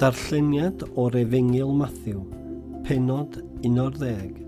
Darlleniad o'r Efengyl Mathew, pennod 11,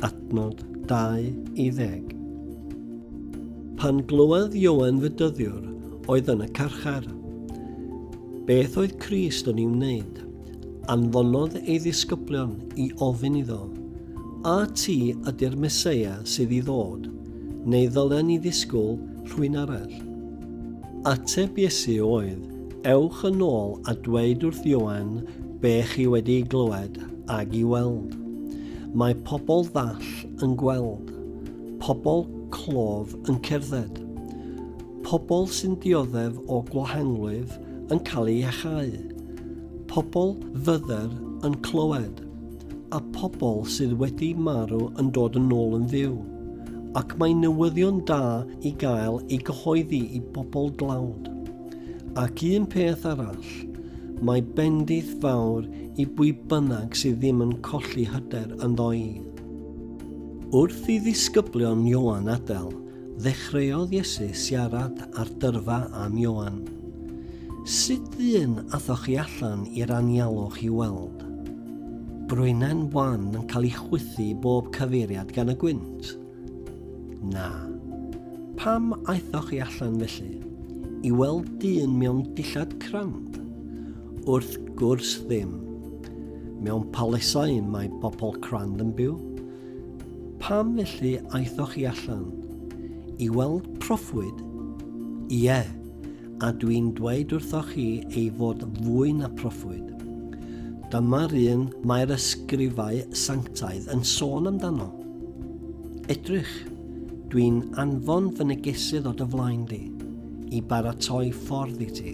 adnod 20. Pan glywodd Ioan fy dyddiwr oedd yn y carchar. Beth oedd Crist yn ei wneud? Anfonodd ei ddisgyblion i ofyn iddo, A ti ydy'r Meseia sydd i ddod, neu ddylen ni ddisgwyl rhywun arall? Ateb Iesu oedd, Ewch yn ôl a dweud wrth Ioan be chi wedi ei glywed ag i weld. Mae pobl ddall yn gweld, pobl clof yn cerdded, pobl sy'n dioddef o gwahanglwyf yn cael ei iachau, pobl fydder yn clywed, a pobl sydd wedi marw yn dod yn ôl yn fyw. Ac mae newyddion da i gael ei gyhoeddi i bobl dlawd. Ac un peth arall, mae bendith fawr i bwy bynnag sydd ddim yn colli hyder ynddo i. Wrth i ddisgyblion Ioan adael, ddechreuodd Iesu siarad ar dyrfa am Ioan. Sut ddyn athoch chi allan i'r anialwch i weld? Brwynen wan yn cael ei chwythu i bob cyfeiriad gan y gwynt. Na. Pam aethoch chi allan felly? I weld dyn mewn dillad crand? Wrth gwrs ddim. Mewn palesau mae bobl crand yn byw. Pam felly aethoch chi allan? I weld proffwyd? Ie. Yeah a dwi'n dweud wrthoch chi ei fod fwy na proffwyd. Dyma'r un mae'r ysgrifau sanctaidd yn sôn amdano. Edrych, dwi'n anfon fy negesydd o dy flaen di, i baratoi ffordd i ti.